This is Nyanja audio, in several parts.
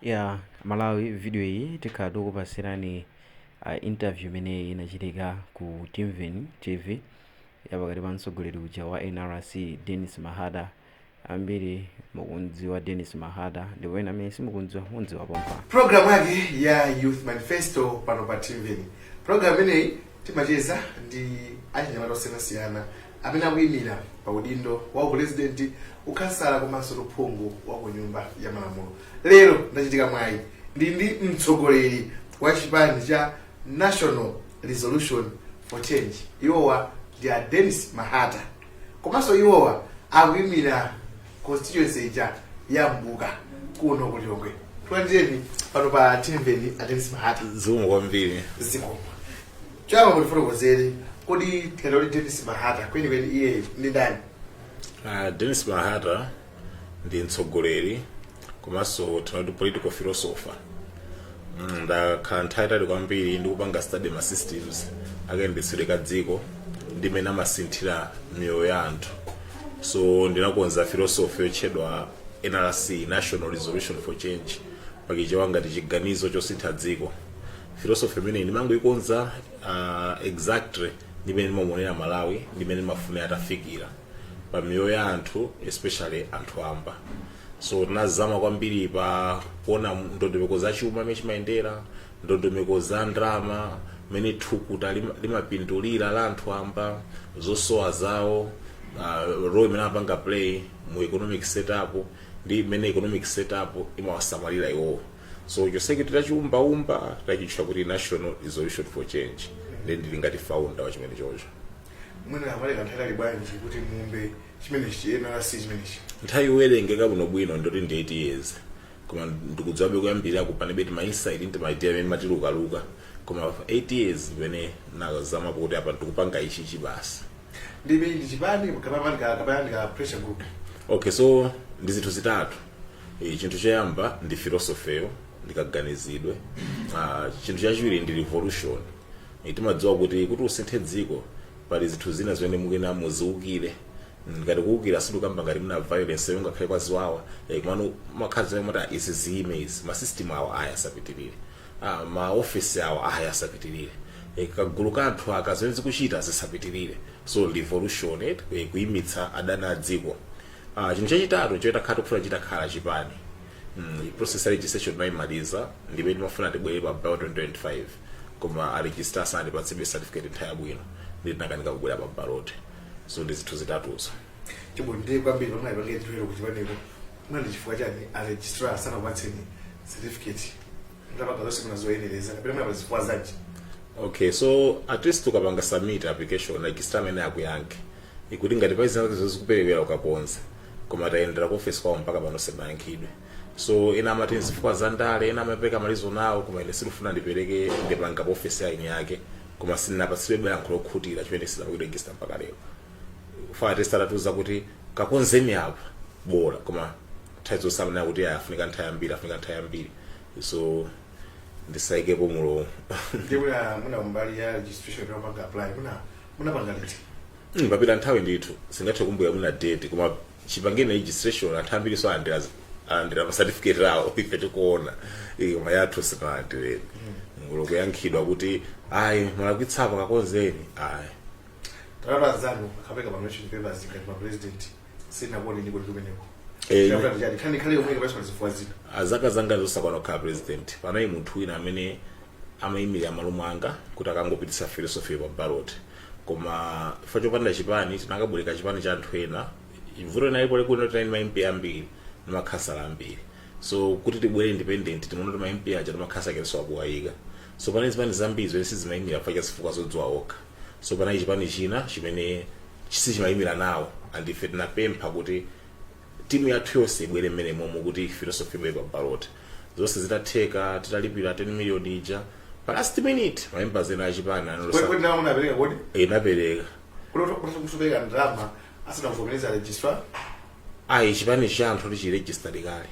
Ya Malawi video iyi tikhala tikupatsirani uh, interview imene inachitika ku Timveni TV ya pakati pa mtsogoleri uja wa NRC Dennis Mahata. Ambiri mukumdziwa Dennis Mahata ndipo ena amene simukumdziwa mumdziwa pompa. Program yake ya Youth Manifesto pano pa Timveni. Program imeneyi timacheza ndi achinyamata osiyanasiyana amene akuimira pa udindo wa upulezidenti, ukhansala komanso uphungu wa ku Nyumba ya Malamulo. Lero ndachitika mwayi ndili ndi mtsogoleri wa chipani cha National Resolution for Change, iwowa ndi a Dennis Mahata komanso iwowa akuimira constituency ija ya Mbuka kuno ku Lilongwe. Tikulandireni pano pa Timveni a Dennis Mahata Zikomo kwambiri. zikomo. Choyamba mutifotokozere kodi tikati Dennis Mahata kwenikweni iyeyo ndi ndani? Uh, Dennis Mahata ndi mtsogoleri komanso tinene kuti political philosopher Mm, ndakhala nthawi yaitali kwambiri ndikupanga study ma systems akayendetsedwe ka dziko ndi mmene amasinthira miyoyo ya anthu so ndinakonza philosophy yotchedwa nrc national resolution for change pa Chichewa ngati chiganizo chosintha dziko philosophy imeneyi ndinangoikonza uh, exactly ndi mmene ndimamuonera Malawi ndi mmene ndimafunira atafikira pa miyoyo ya anthu especially anthu wamba so tinazama kwambiri pa kuona ndondomeko za chuma mmene chimayendera ndondomeko za ndalama mmene thukuta lima- limapindulira la anthu wamba zosowa zawo uh, role imene amapanga play mu economic setup ndi mmene economic setup imawasamalira iwowo so chonsecho titachiumbaumba tachitcha kuti national resolution for change nde ndili ngati founder wa chimenecho mwina zinatenga nthawi yaitali bwanji kuti muumbe chimenechi nrc chimenechi nthawi yowerengeka bwinobwino ndi yoti ndi 8 years koma ndikudziwabe kuyambirira ko panali tima insight ndi maideya amene ndimatilukaluka koma 8 years imene ndazama kuti apa ndikupanga ichi chibasi ndiye ndi chipani kapena kapena ka pressure group okay so ndi zinthu zitatu E, chinthu choyamba ndi filosofeyo ndi kaganizidwe ah, chinthu chachiwiri ndi revolution e, timadziwa kuti kuti usinthe dziko pali zinthu zina zimene mukuyenera muziukire ndikati kuukira sindikukamba ngati mwina violence yo nkhanza kaya ziwawa e, komano umakhazikika n'kumati izi ziyime izi masystem awa ayi asapitirire ah, maofesi awa ayi asapitirire e, kagulu ka anthu aka zimene akuchita zisapitirire so revolution eh, kuyimitsa adani a dziko Ah, chinthu chachitatu choti ngati kufuna chitakhala chipani mm, process ya registration timayimaliza ndipo timafuna tibwere pa ballot 2025 koma a registrar sanatipatsebe certificate nthawi yabwino ndi tinakanika kubwera pa ballot so ndi zinthu zitatuzo chifuno ndiye kwambiri pamene ayipange nthuwiro ku chipaniko mwina chifukwa chani a registrar sanakupatseni certificate ndalama zonse munazoyenereza kapena mwina pa zifukwa zanji okay so at least ukapanga submit application registrar amayenera akuyankhe kuti ngati pali zina zake zikuperewera ukakonza koma tayendera ku office kwawo mpaka pano sitinayankhidwe so ena amati nzifukwa za ndale ena amapereka ma reason awo koma ine sindifuna ndipereke ndemanga pa office ya eni ake koma sindinapatsidwe yankho lokhutira chimene sanakuregista mpaka lero chifukwa at least atatiuza kuti kakonzeni apa bora koma nthawi zonse amanena kuti "Ah, afunika nthawi yambiri afunika nthawi yambiri so ndisaikepo mlomo ndiye mwina mwina kumbali ya registration yopanga apply mwina munapanga liti Mm, papita nthawi ndithu sindingathe kukumbukira mwina date koma chipangireni registration anthu ambirinso alandira alandira ma certificate awo ife tikuona Eh, koma yathu sitinalandire ngakhale kuyankhidwa kuti ayi mwalakwitsa apa kakonzeni ayi pamene anzanu akapereka ma nomination papers ngati ma president sitinakuoneniko inu kumeneko Eh, chinavuta ndi chani nkhani yake yomweyo kapena pazifukwa zina Ah, zaka zanga zosakwana kukhala president panali munthu wina amene amayimirira m'malo mwanga kuti akangopititsa philosophy pa ballot koma chifukwa chopanda chipani tinakabwereka chipani cha anthu ena vuto linalipo ndi lakuti tinali ndi ma mp ambiri ndi makhansala ambiri so kuti tibwere independent timaona kuti ma mp aja ndi makhansala tilibenso kowayika so panali zipani zambiri zimene sizimayimira pa zifukwa zodziwa okha so panali chipani china chimene sichimayimira nawo and ife tinapempha kuti timu yathu yonse ibwere mmenemomo kuti philosophy ibwere pa ballot zonse zitatheka titalipira 10 million ija pa last minute ma members ena achipani analetsa kodi ndalamayo munapereka kodi tinapereka munatheka kupereka ndalama asanakuvomerezeni registrar ayi chipani cha anthu chili registered kale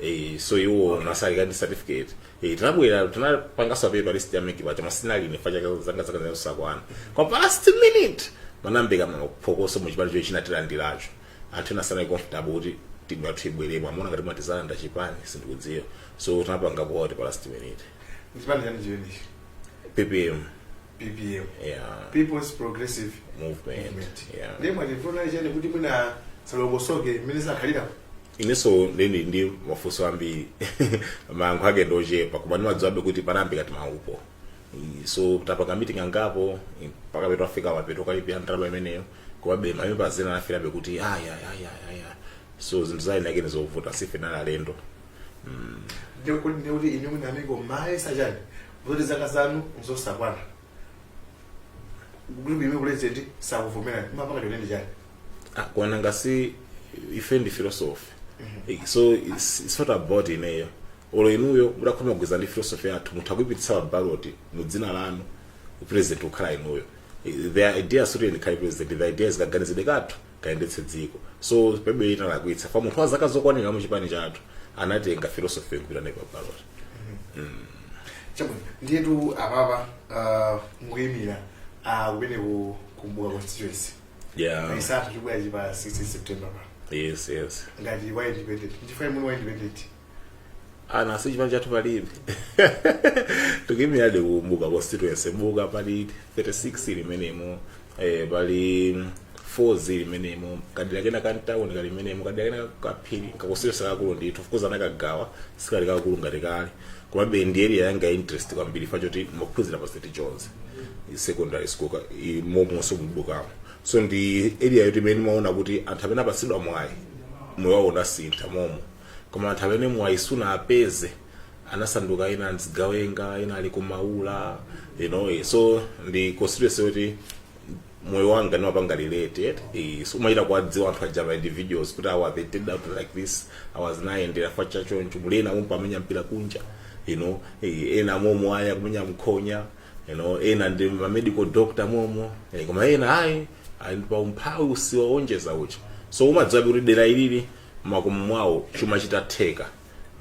eh so iwo anali kale ndi certificate eh tinabwera tinapangaso appear pa list ya MEC koma sindinali ine chifukwa cha zaka zanga zosakwana kwa pa last minute munamveka maphokoso mu chipani chomwe chinatilandiracho anthu ena sanali comfortable kuti timu yathu ibweremo amaona ngati matizalanda chipani sindikudziwa so tinapanga vote pa last minute Chipani chani chimenechi? ppm ppm yeah people's progressive movement movement yeah ndiye vuto linali chani kuti mwina zisalongosoke mmene zakhalira ineso ndili ndi mafunso ambiri mayankho ake ndochepa koma ndimadziwabe kuti panali ngati mavuto I- so tapanga meeting angapo i- mpaka pomwe tafika mapeto takalipira ndalama imeneyo komabe ma members ena anafikabe kuti aya aya aya so zinthu zaeni ake ndi zovuta since ife tinali alendo ndekuti ndekuti inu mwina amiko mayesa chani zoti zaka zanu nzosakwana group imene president sakuvomerani mukupanga ndiye ndi chani akwana ngati si ife ndi philosophy Eh, so it's, it's not about ineyo olo inuyo mudakhoma kugwirizana ndi philosophy yathu mutha kuipititsa pa ballot mu dzina lanu president kukhala inuyo Eh, the idea sikuti ndikhale president the idea is kaganizidwe kathu kayendetsedwe dziko so pakadapezeka munthu wa zaka zokwanira mu chipani chathu akanatenga philosophy kupita nayo pa ballot chabwino ndiyetu apapa ah, mukuyimira ah, kumene ku Mbuka constituency yeah chisankho chibwerachi pa 16 september pa yes yes ngati wa independent ndipo ayi muli wa independent aa nanga si chipani chathu palibe tikuyimirabe ku Mbuka constituency Mbuka pali 36 ili m'menemo eh, pali 4 ili m'menemo kadera kena ka mtawuni kali m'menemo kadera kena kaphiri kakonstituency kakulu ndithu of course anakagawa sikali kakulu ngati kale komabe ndi area yanga ya interest kwambiri chifukwa choti ndaphunzira pa st john's secondary school ka- i- momonso mu Mbukamo so ndi area yoti ine ndimaona kuti anthu amene apatsidwa mwayi moyo wawo unasintha momo koma anthu amene mwayi sunawapeze anasanduka ena zigawenga ena ali ku Maula you know eh, so ndi constituency yoti moyo wanga ndimapanga relate eti eh, so umachita kuwadziwa anthu aja ma individuals kuti awa they turned out like this awa zinawayendera chifukwa cha choncho muli ena momo amenya mpira kunja you know eh, ena momo ali kumenya nkhonya you know ena ndi ma medical doctor momo eh, koma ena ayi ali pa umphawi wosayonjeza uchi so umadziwa kuti dera ilili mmakomo mwawo chuma chitatheka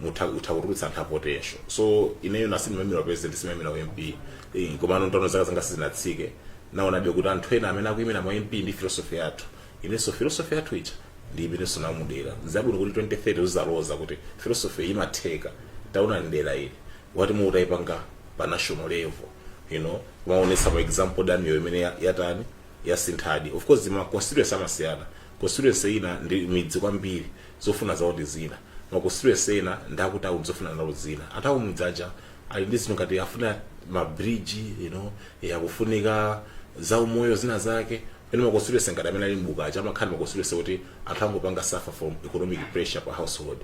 mutha kutha kutulutsa anthu a potential so ineyo nanga sindimaimira president sindimaimira wa mp Eh, komano ntaona zaka zanga sizinatsike ndaonabe kuti anthu ena amene akuyimira ma mp ndi philosophy yathu inenso philosophy yathu ija ndi imene ndionetsa mu dera zabwino kuti 2030 uzaloza kuti philosophy ija imatheka taona dera ili what if mutayipanga pa national level you know kumaonetsa ma example dera ilo imene ya- yatani yasinthadi of course ma constituency amasiyana constituency ina ndi midzi kwambiri zofuna zawo ndi zina ma constituency ena ndi akutauni zofuna zawo ndi zina anthu akumudzi aja ali ndi zinthu ngati afuna ma bridge you know eh, akufunika zaumoyo zina zake pomwe ma constituency ngati amene ali Mbuka aja amakhala ma constituency oti anthu angopanga suffer from economic pressure pa household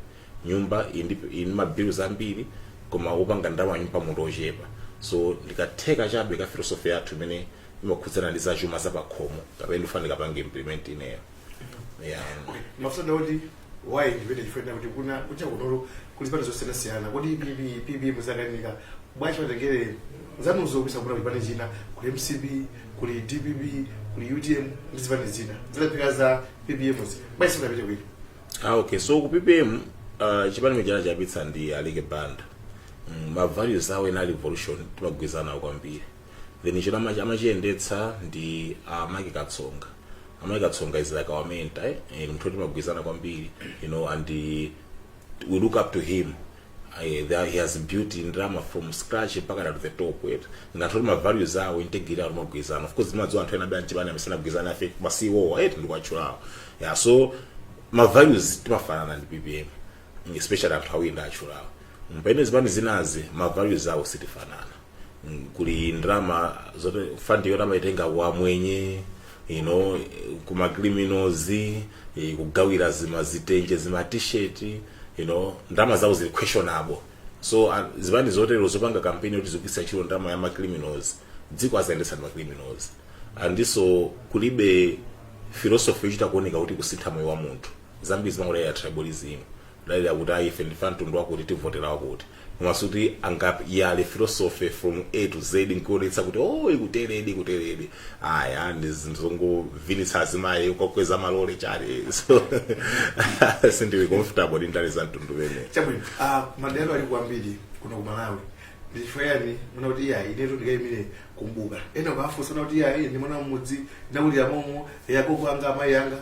nyumba indi indi ma bills ambiri koma opanga ndalama nyumbamo anthu ochepa so ndi katest chabe ka philosophy yathu imene imakhudzana ndi zachuma zapakhomo kapena ndifuna ndikapange implement ineyo yeah. mafuna kuti wayi ndimvetse chifukwa kuti kuna kunja kuno kuli zipani zosiyanasiyana kodi ppm ppm muzakanika bwanji matengere zanuzo kunja kuno kuli zipani zina kuli mcp kuli dpp kuli utm ndi zipani zina zinaphika za ppm zi bwanji simunapite kwina ah, okay so ku ppm uh, chipani chimene anachiyambitsa ndi aleke banda mm, ma values awo ena a revolution timagwirizana nawo kwambiri then ichi amachi- amachiyendetsa ndi a mark katsonga a mark katsonga is like our mentor eh? Eh, munthu oti timagwirizana kwambiri you know and eh, we look up to him Eh, there- he has built ndrama from scratch mpaka to the top yet ngati oti mavalues awo integrity awo timagwirizana of course ndimadziwa anthu ena bya mchibana amesana gwirizana afe masiwowa eti ndikuwatchulawo yeah so ma values timafanana ndi ppm especially anthu awiri ndawatchulawo pamene zipani zinazi ma values awo sitifanana Mm, kuli ndrama zote fund yoti amaitenga kwa amwenye you know kuma criminals eh, kugawira zima zitenje zima t-shirt you know ndrama zawo zili questionable so ah, zipani zotero zopanga kampeni yoti zikugwiritsa ntchito ndrama ya ma criminals dziko azayendetsa ndi ma criminals andiso kulibe philosophy yochita kuoneka kuti kusintha moyo wa munthu zambiri zimangokhala tribalism kudalira kuti ayi ife ndife amtundu wakuti tivotera wakuti koma sikuti angayale philosophy from a to z nkuonetsa kuti o ikuteredi kuteredi aya ndi zinthu zongovinitsa azimayi kuwakweza malole chabe so sindili comfortable ndi ndale za mtundu umenewo chabwino ah, madera ali kwambiri kuno ku malawi ndichifukwa chiyani munaona kuti iyayi inetu ndikayimire ku mbuka ena ukafunsa anena kuti iyayi ine ndi mwana wa mmudzi ndakulira momo agogo anga amayi anga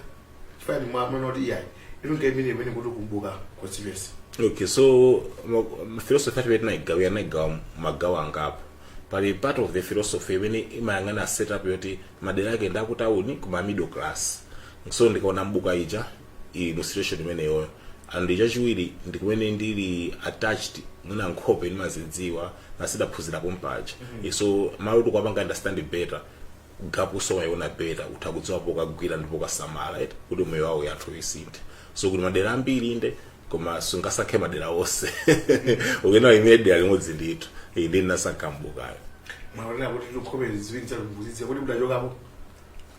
chifukwa inu mwa- mwaona kuti iyayi inu ngemene imene kuti ku mbuka constituency okay so ma- philosophy yathu tinayigawa yanayigawa magawo angapo pali part of the philosophy imene imayang'ana setup yoti madera ake ndi akutawuni koma middle class so ndikaona mbuka ija ili mu situation imeneyoyo and chachiwiri ndi kumene ndili attached mwina nkhope ndimazidziwa nanga si ndidaphunzira pompaja so malo oti ukuwapanga understand better gapuso umaiona better utha kudziwa pokagwira ndi pokasamala eti kuti miyoyo ya anthu isinthe so kuti madera ambiri inde koma sungasankhe madera onse ukuyenera uyime dera limodzi ndithu iyi ndi ndinasankha mbukayo mwaonera kuti nkhope ziwiri zakumbuzitse kuti mudachokapo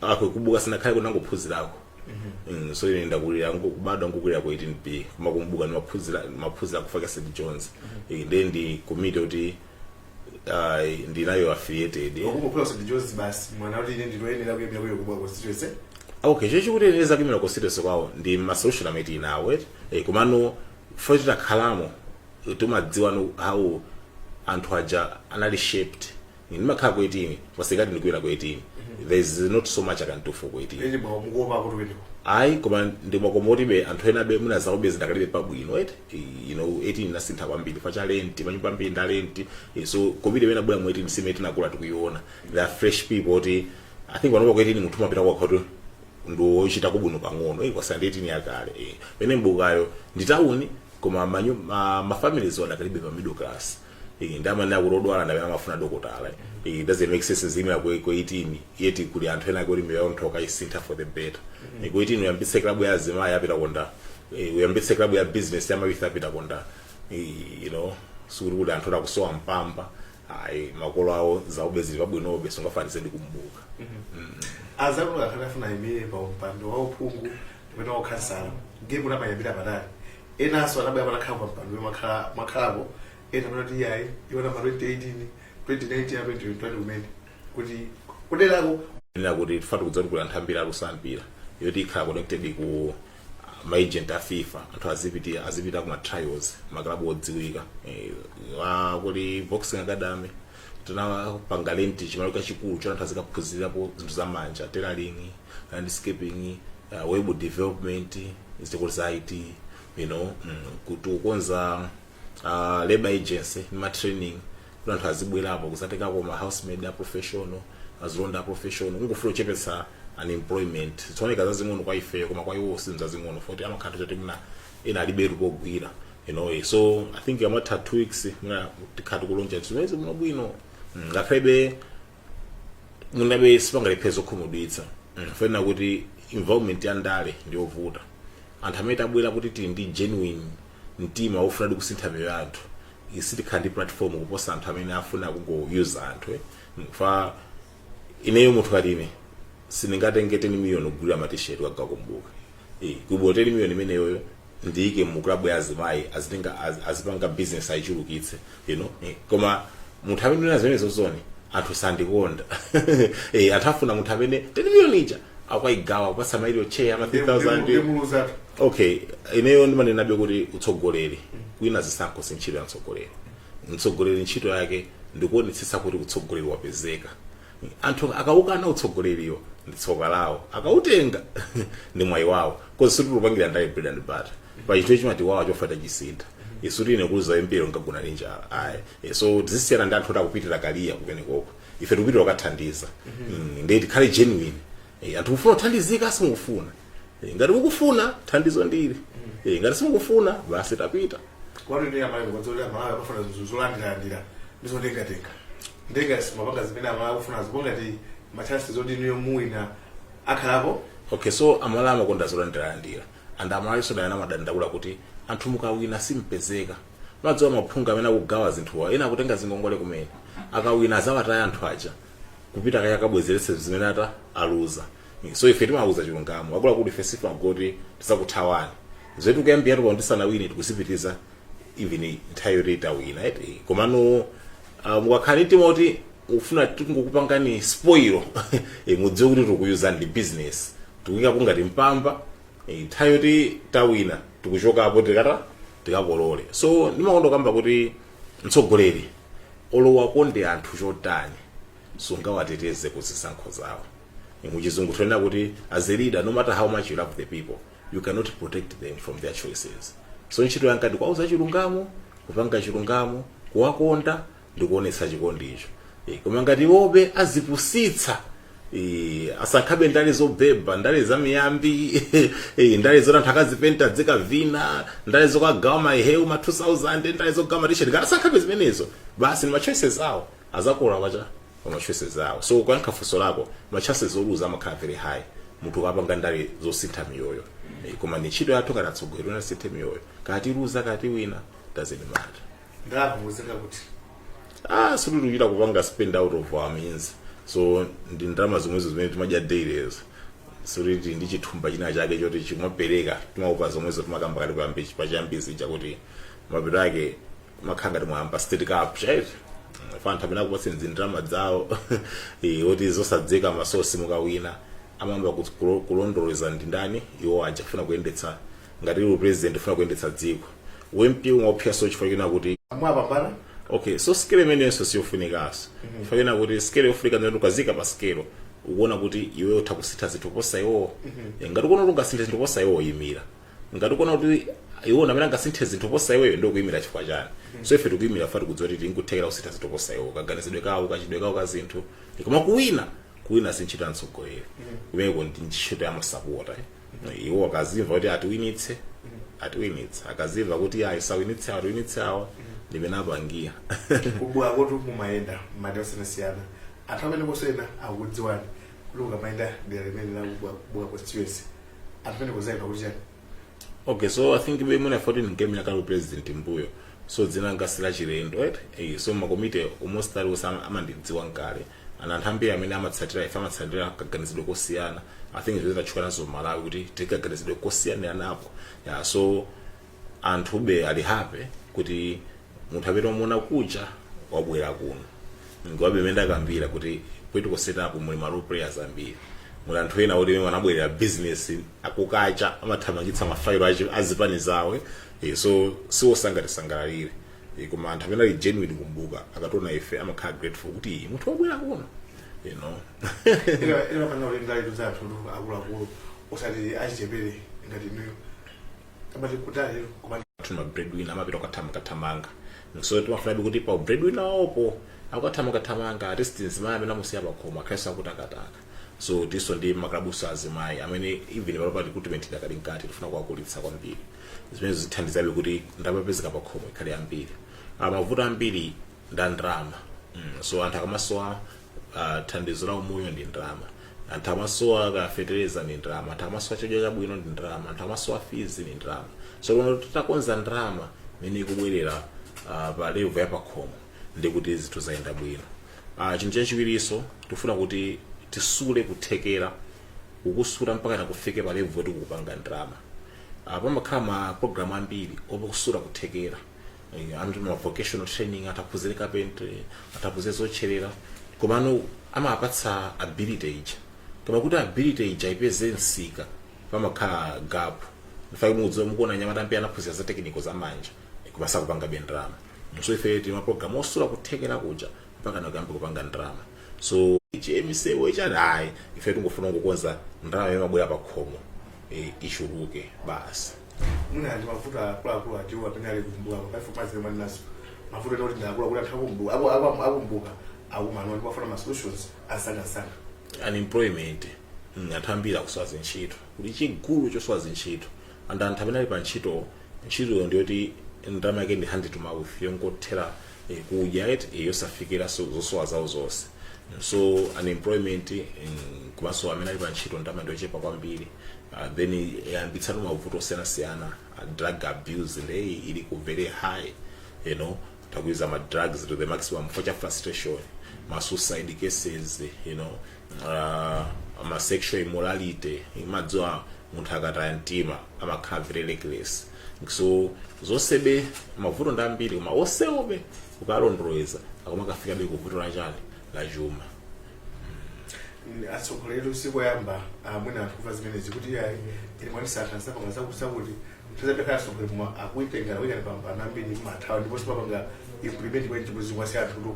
ako ku mbuka simunakhale munangophunzirako Mm, so ine ndakulira ngo- kubadwa nkukulira ku 18b koma ku mbuka ndimaphunzira maphunzira kufaka st john's Eh, ndi ndi komiti kuti ayi ndinayo affiliated okungophula ku st john's basi mwana kuti ine ndinoyenera kuyenda kuyo kubwa constituency okay cho chikuti ine zakuimira constituency kwawo ndi ma solution amene tili nawo eti eh, komano fo titakhalamo timadziwa know how anthu aja anali shaped ndimakhala ku 18 sikuti ndikuimira ku 18 there is not so much i can do for ku 18 ene mwawo mukuopa kuti kumeneko ayi koma ndimwakomotibe anthu enabe mwina zawobe zidakalibe pabwino eti eh, you know 18 inasintha kwambiri fa cha rent manyumba ambiri nda rent eh, so covid imene inabwera mu 18 si imene tinakula tikuiona there are fresh people oti i think panopa ku 18 munthu umapita kwa khoto ndi ochitako bwino pang'ono eh, kuposa ndi 18 yakale eh. pene mbukayo ndi town koma manyu- ma, ma families adakalibe pa middle class iyi ndimanena kuti odwala ndi amene amafuna dokotala it doesn't make sense ndiziimira ku ku 18 yet kuli anthu ena kuti miyoyo nditha kukaisintha for the better mm ku 18 uyambitse klabu ya azimayi apitako ndani eh, uyambitse klabu ya business ya ma youth apitako ndani eh, you know sikuti kuli anthu akusowa mpamba ayi makolo awo zawobe zili pabwinobe sungafanise ndi ku mbuka azakulu akhale afuna ayimire pa umpando wa uphungu pamene ukhansala ndiye kuti amayambira patali enanso anabwera patakhala pa mpando mwakhala- mwakhalapo ena panati iyayi iwona ma 2018 2019 a 2021 kumene kuti kuderako nena kuti tifuna kudzatsegula nthambi ya luso la mpira yoti ikhale connected ku maagent a fifa anthu azipita azipita ku matrials maklabu odziwika Eh, wa- kuli boxing academy tinapanga lenti chimalo chachikulu choti anthu azikaphunzirapo zinthu za manja tailoring landscaping uh, web development sukulu za it you know mm, tikukonza uh, labor agency ndi ma training kuti anthu azibwerapo kuzatengako ma housemaid a professional azilonda a professional kungofuna kuchepetsa unemployment zioneka zazing'ono kwa ifeyo koma kwa iwo si zazing'ono foti amakhala anthu oti mwina ena alibetu pogwira you know eh, so i think amatha two weeks mwina tikhala tikuloncha zimenezi bwinobwino Mm, ngakhale mwinabe sipangalephe zokhumudwitsa Mm, fena kuti involvement ya ndale ndiyovuta anthu amene tabwera kuti tili ndi genuine mtima wofunadi kusintha miyoyo ya anthu sitikhala ndi platform kuposa anthu amene afuna kungoyuza anthu eh. Mm, fa ineyo munthu ngati ine sindingatenge 10 million kugulira matisheti kukagawa ku mbuka kuli bho 10 million imeneyoyo ndiike mu club ya azimayi azitenga az- azipanga business ayichulukitse you know eh, koma munthu amene unena zimenezozo ndiye anthu sandikonda eh, anthu afuna munthu amene 10 million ija akayigawa kupatsa ma area chair ama 3000 ndimuluzatu okay ineyo ndimanenabe kuti utsogoleri kuwina zisankho si ntchito ya mtsogoleri mtsogoleri ntchito yake ndikuonetsetsa kuti utsogoleri wapezeka anthu akawukana utsogoleriwo ndi tsoka lawo akawutenga ndi mwayi wawo cause sitikupangira ndale bread and butter pachinthucho chimati wawa chofata chisintha sikuti ine kuluza mpiro ndikagona ndi njala ayi Eh, so tizisiyana ndi anthu oti akupitira kadya kumenekoko ife tikupitira kukathandiza Mm, ndiye tikhale genuine Eh, anthu mufuna kuthandizika simukufuna Eh, ngati mukufuna thandizo ndili Eh, ngati simukufuna basi tapita kwanu ndi amalawi kwazolowera amalawi akufuna zinthu zolandirandira ndi zotengatenga ndenga sumapanga zimene amalawi akufuna zipo ngati machances oti inuyo muwina akhalapo okay so amalawi amakonda zolandirandira and amalawi sodayana amadandaula kuti anthu mukawina simpezeka madziwa maphungu amene akugawa zinthuwa ena akutenga zingongole zimene akawina azawataya anthu aja kupita kaye akabwezeretse zimene ata aluza so ife timauza chilungamo akuluakulu ife sitimangoti tizakuthawani zoti kuyambira tuko ndisanawine tikusipitiza even nthawi yoti tawina eti komano uh, mukakhala timati mufuna tingokupangani spoil e, mudziwe kuti tikuyuzani ndi business tikuyika ngati mpamba e, nthawi yoti tawina tikuchokapo tika tikakolole so ndimakonda kamba kuti mtsogoleri olo wakonde anthu chotani sungawateteze ku zisankho zawo muchizungu timanena kuti as a leader no matter how much you love the people you cannot protect them from their choices so ntchito yanga ndi kuwauza chilungamo kupanga chilungamo kuwakonda ndi kuonetsa chikondicho Eh, koma ngati iwobe azipusitsa Eh, asankhabe ndale zobeba ndale zamiyambi eh, ndale zoti anthu akazipenta nzikavina ndale zokagawa maheu ma 2000 ndale zogawa matisheti ngati asankhabe zimenezo basi ni machoices awo azakolola chachama choices awo so kuyankha funso lako machances oluza amakhala very high munthu ukapanga ndale zosintha miyoyo Eh, koma ni ntchito yathu ngati atsogoleri wosinthe miyoyo kaya tiluza kaya tiwina doesn't matter ndalamuuzinga kuti ah sitikuchita kupanga spend out of our means so ndi ndalama zomwezo zimene timadya dailyzo sikuti ndi chithumba china chake choti chimapereka timaupa zomwezo timakamba kati kuyambi pachiyambi chakuti mapeto ake mumakhala ngati mwayamba state capture ifa anthu amene akupatsani ndalama zawo eh, oti zosadziwika masosi mukawina amayamba kut- kulo- kulondoleza ndi ndani iwo aja kufuna kuyendetsa ngati ndiwe president ufuna kuyendetsa dziko u mp umaopsaso chifukwa chonena kuti mwapambana okay so scale imenenso ndiyofunikaso chifukwa chonena kuti scale yofunika ndi yoti ukaziika pa scale ukuona kuti iwe utha kusintha zinthu kuposa iwowo Eh, ngati ukuona kuti ungasinthe zinthu kuposa iwowo yimira ngati ukuona kuti iwo ndi amene angasinthe zinthu kuposa iweyo nde ukuyimira chifukwa chani so ife tikuyimira fa tikudziwa kuti tili nkuthekera kusintha zinthu kuposa iwowo kaganizidwe kawo kachitidwe kawo ka zinthu koma kuwina kuwina sintchito ya mtsogoleri kumeneko ndi ntchito ya masapota eh. No, iwo akazimva kuti atiwinitse atiwinitsa akazimva kuti ayi sawinitse awa tiwinitse awa ndimene apangira kubwa kotu mumayenda madera osiyanasiyana anthu amene kosayenda akukudziwani kuti ukamayenda dera limene la ku Mbuka ku Mbuka constituency anthu amene kuzayenda kuti chani okay so i think ine mwina 14 ngame yakali president mbuyo so dzina langa si lachilendo right eh, so makomite almost aliwonse amandidziwa nkale and anthu ambiri amene amatsatira ife amatsatira kaganizidwe kosiyana i think zimene tatchuka nazo Malawi kuti tikaganizidwe kosiyaniranapo yeah, so anthube ali happy kuti munthu amene wamuona kuja wabwera kuno komabe mmene ndakambira kuti political setup muli ma role players ambiri muli anthu ena oti mwina anabwerera business akukacha amathamangitsa mafailo achi- azipani zawo eh, so si onse angatisangalalire Eh, koma anthu amene ali genuine ku Mbuka akationa ife amakhala grateful kuti "Ih, munthu wabwera kuno you know imafanira kuti ndaletu zathu ndi akuluakulu osati achichepere ngati inuyo amati kutali koma tuna breadwinner amapita ukathamanga-thamanga so timafunabe kuti pa breadwinner waopo akathamanga-thamanga at least mzimayi amene amusiya pakhomo akhalenso akutakataka so tiso ndi makalabuso azimayi amene even panopa recruitment idakali mkati tifuna kuwakulitsa kwambiri zimene zithandizabe kuti ndalama yopezeka pa khomo ikhale yambiri Ah, mavuto ambiri nda ndalama mm. so anthu akamasowa ah, thandizo la umoyo ndi ndalama anthu amasowa kafetereza ndi ndalama anthu amasowa chakudya chabwino ndi ndalama anthu amasowa fizi ndi ndalama so lero titakonza ndalama imene ikubwerera ah, pa level ya pakhomo ndi kuti zinthu zayenda bwino ah, chinthu chachiwirinso tifuna kuti tisule kuthekera kukusula mpaka nakufike pa level yoti kupanga ndalama Ah, pamakhala ma program ambiri okusula kuthekera Eh, anthu ma vocational training ataphunzire carpentry ataphunzire zotcherera komano amapatsa ability ija koma kuti ability ija ipeze msika pamakhala gap mfake mukudziwa mukuona anyamata ambiri anaphunzira za technical za manja koma sakupangabe ndalama so ife tili ma program osula kuthekera kuja mpaka nakuyamba kupanga ndalama so chmsewo ichati ayi ife tingofuna kukonza ndalama yomabwera pa khomo eh, ichuluke basi mwina ndi mavuto akuluakulu atiwo amene ali ku Mbuka pakaifu mazire maninaso mavuto oti ndi akuluakulu anthu a ku Mbuka aku- aku- a ku Mbuka akumana nawo ndipo akufuna ma solutions amsangamsanga unemployment mm, anthu ambiri akusowa zintchito kuli chigulu chosowa zintchito and anthu amene ali pa ntchito ntchitoyo ndiyoti ndalama yake ndi hand to mouth yongothera eh, kudya et eh, yosafikira so- zosowa zawo zonse so unemployment eh, komanso amene ali pa ntchito ndalama ndiyochepa kwambiri Ah, then yayambitsano mavuto osiyanasiyana ah, drug abuse nde ili ku very high you know anthu akuyuza ma drugs to the maximum chifukwa cha frustration ma suicide cases you know uh, ma sexual immorality imadziwa munthu akataya mtima amakhala very reckless so zonsebe mavuto ndi ambiri koma onsewobe ukalondoleza akumakafikabe ku vuto la chani la chuma atsogoleri si kuyamba mwina anthu kumva zimenezi kuti ayi ine mwandisankha sakoma zakusakuti tizapekhala atsogoleri koma akuitengera wina pambana ambiri amathawa ndiponso sapanga implement kwa chimbuzi kwasi anthu kuti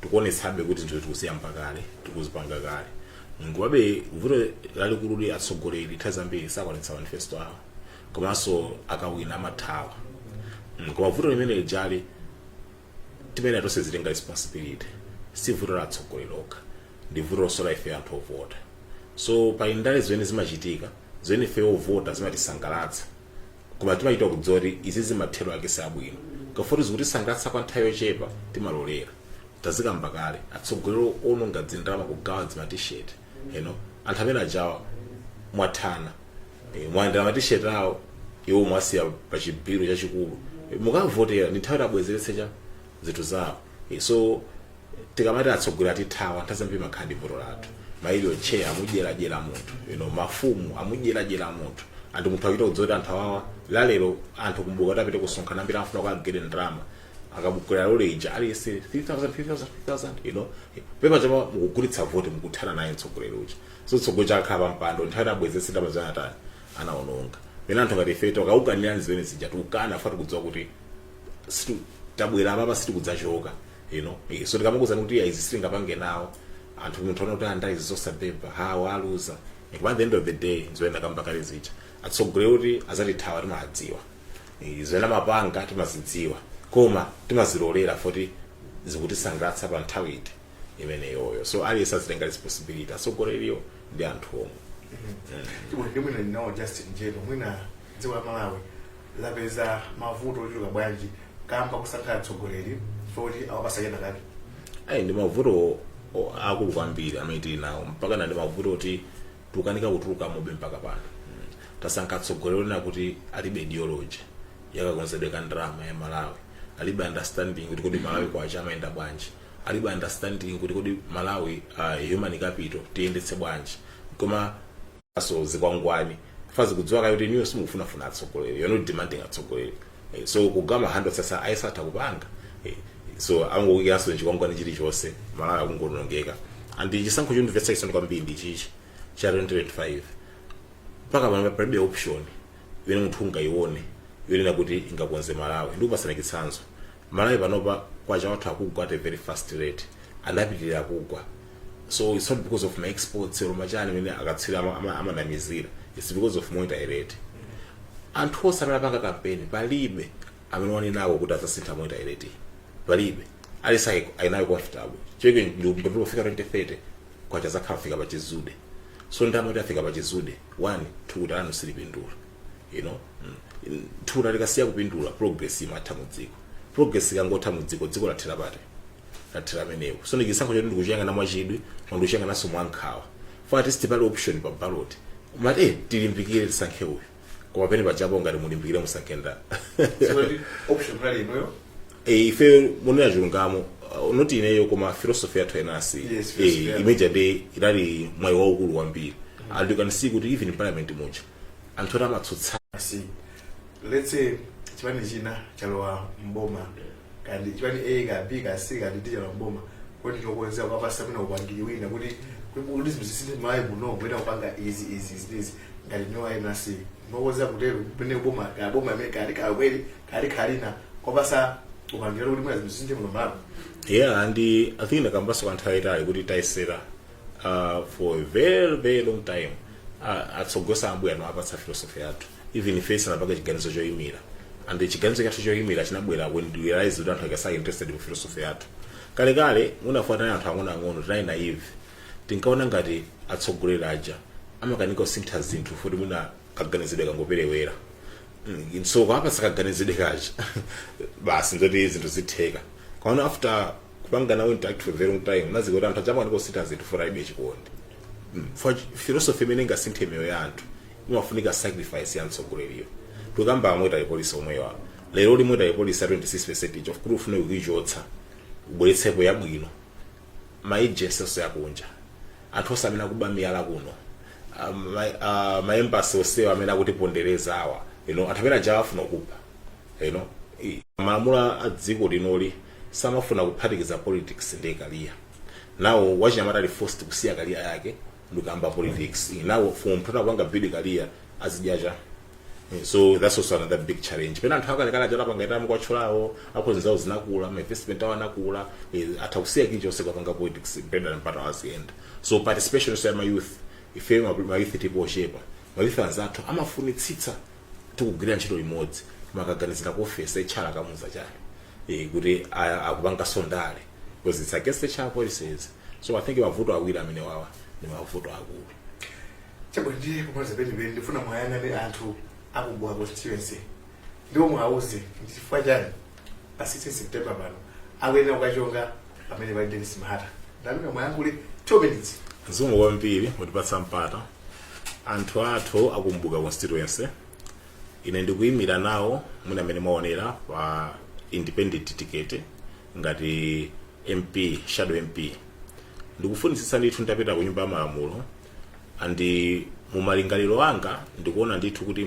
tikuonetsabe kuti zinthu tikuziyamba kale tikuzipanga kale komabe vuto lalikulu ndi atsogoleri nthawi zambiri sakwanitsa manifesto awo komanso akawina amathawa Mm, koma vuto limene lijali timene tonse tizitenga responsibility si vuto la atsogoleri okha ndi vuto lonso la ife anthu ovota so pali ndale zimene zimachitika zimene ife ovota zimatisangalatsa koma timachita kudziwa kuti izizi mathero ake si abwino koma foti zikutisangalatsa kwa nthawi yochepa timalolera tazikamba kale atsogoleri ononga dzindalama kugawa dzimatisheti you know anthu amene ajawa mwathana Eh, mwalandira matisheti awo iwo mwawasiya pa chibhiro chachikulu Eh, mukawavotera ndi nthawi yoti abwezeretse cha zinthu zawo Eh, so tikamati atsogoleri atithawa nthawi zambiri imakhala ndi vuto lathu mailio che amudyeradyera munthu you know, mafumu amudyeradyera munthu anthu munthu akuita kudziwa kuti anthu awawa lalero anthu kumbuka kuti apite kusonkhana ambiri amafuna kuti agere ndalama akakwera lole ija aliyense 3000 you know pepa chapa mukugulitsa voti mukuthana naye mtsogoleri uja so mtsogoleri uja akakhala pampando nthawi yoti abwezetse ndalama zimene atani anaononga pena anthu ngati ife tikakukanirani zimene zija tikukana foti tikudziwa kuti situ- tabwera apapa sitikudzachoka you know eh, so tikamakuuzani kuti izi sitingapange nawo anthu munthu ona kuti a ndale zosabeba awa aluza Eh, koma at the end of the day zomwe ndakamba kale zija atsogoleri kuti azatithawa timadziwa Eh, zomwe amapanga timazidziwa koma timazilolera foti zikutisangalatsa pa nthawi iti imeneyoyo so aliyense azitenga responsibility atsogoleriwo ndi anthu omwe chibulike mwina ndinawo justin jero mwina dziko la malawi lapeza mavuto ochuluka bwanji kamba kosankha atsogoleri foti awapatsa kena kake ayi ndi mavuto o- akulu kwambiri amene tili nawo mpaka pano ndi mavuto oti tikukanika kutuluka mobe mpaka pano Mm. tasankha atsogoleri onena kuti alibe ideology ya kakonzedwe ka ndalama ya malawi alibe understanding kuti kodi malawi kwacha amayenda bwanji alibe understanding kuti kodi malawi uh, human capital tiyendetse bwanji koma komanso zikwangwani chifukwa akudziwa kale kuti inuyo simukufunafuna atsogoleri you're not demanding atsogoleri Eh, so kugawa ma handouts aja ayesatha kupanga Eh, so angokuikiranso chikwangwani chilichonse malawi akungoonongeka and chisankho chondimvetsa chisoni kwambiri ndi chichi cha 2025 mpaka pano palibe option imene munthu ungayione yonena kuti ingakonze malawi ndikupatsani chitsanzo malawi panopa kwacha wathu akugwa at a very fast rate anapitirira kugwa so it's not because of ma exports or machani amene akatswiri ama- ama- amanamizira it's because of monetary rate anthu onse amene apanga kampeni palibe amene wanenawo kuti adzasintha monetary rate iyi. palibe aliyense ali nayo comfortable cheke ndikufika 2030 kwacha adzakhala atafika pachizude so ndamati afika pachizude one thukuta lanu silipindula you know mm. thukuta likasiya kupindula progress imatha mu dziko progress ikangotha mu dziko dziko lathera pati lathera pamenepo so ndi chisankho choti ndikuchiyang'ana mwachidwi koma ndikuchiyang'ananso mwankhawa chifukwa at least pali option pa ballot mumati eh, tilimbikire tisankhe uyu koma pene pachapo ngati mulimbikire musankhe ndani Sikuti option pali inuyo. Eh, ife mukunena chilungamo uh, not ineyo koma philosophy yathu enasi Yes, philosophy yathu. imene ija ndiye inali mwayi waukulu kwambiri and you can see kuti even in parliament muja anthu oti amatsutsa si let's say chipani china chalowa mboma kaya ndi chipani a kaya b kaya c kaya d chalowa mboma kuti tikukonzeka kuwapatsa mwina upangiri wina kuti kuti kuti zinthu zisinthe malawi muno kuita kupanga izi izi izi izi ngati inu ayi nasi mwakonzeka kutero pene boma kaya boma limene kali kakweli kali kalina kuwapatsa upangiri kuti mwina zinthu zisinthe muno mmalawi yeah and i think ndakambanso kwa nthawi yayitali kuti tayesera uh, for a very very long time uh, atsogoleri am'mbuyo tinawapatsa philosophy yathu even ife tisanapange chiganizo choyimira and chiganizo chathu choyimira chinabwera when we realized kuti anthu aja sali interested mu philosophy yathu kalekale muja chifukwa tinali anthu ang'onoang'ono tinali naive tinkaona ngati atsogoleri aja amakanika kusintha zinthu futi mwina kaganizidwe kangoperewera Mm, so kuwapatsa kaganizidwe kaja basi ndiye kuti zinthu zitheka komano after kupanga nawo interact for a very long time tinazindikira kuti anthu aja amakanika kusintha zinthu chifukwa alibe chikondi Mm. chifukwa philosophy imene ingasinthe miyoyo ya anthu imafunika sacrifice ya mtsogoleriyo tikukamba za monetary policy omwewa lero lino monetary policy ya 26 percent kuti ufune kuichotsa ubweretsepo yabwino ma agency onse akunja anthu onse amene akuba miyala kuno ah, ma- ah, ma embassy onsewa amene akutipondereza awa you know, anthu amene aja afuna kupha you know, i- malamulo a dziko linoli samafuna kuphatikiza politics ndi career now wachinyamata ali forced kusiya career yake ndikuyamba politics now chifukwa munthu sanapange build career azidya chani Eh, so that's also another big challenge pena anthu akalekale aja anapanga retire mukuwatchulawo accounts zawo zinakula ma investment awo anakula eh, atha kusiya kilichonse kukapanga politics mpendana mpata waziyenda so participation so ya ma youth ife ma ma youth tipo ochepa ma youth anzathu amafunitsitsa tikugwira ntchito limodzi koma akaganizira ku ofesi HR akamuuza chani eh, kuti a- akupanganso ndale because it's against HR policies so i think mavuto awiri amene wawa ndi mavuto akulu chabwino ndi kumaliza penipeni ndifuna muwayang'ane anthu akugwa constituency ndipo muwauze ndi chifukwa chani pa 16 september pano akuyenera ukachonga pamene pali denis mahata ndapempha muyankhule 2 minutes zikomo kwambiri potipatsa mpata anthu athu akumbuka constituency ine ndikuyimira nawo monga mmene mwaonera pa independent ticket ngati mp shadow mp ndikufunitsitsa ndithu nditapita ku nyumba ya malamulo andi mu malingaliro anga ndikuona ndithu kuti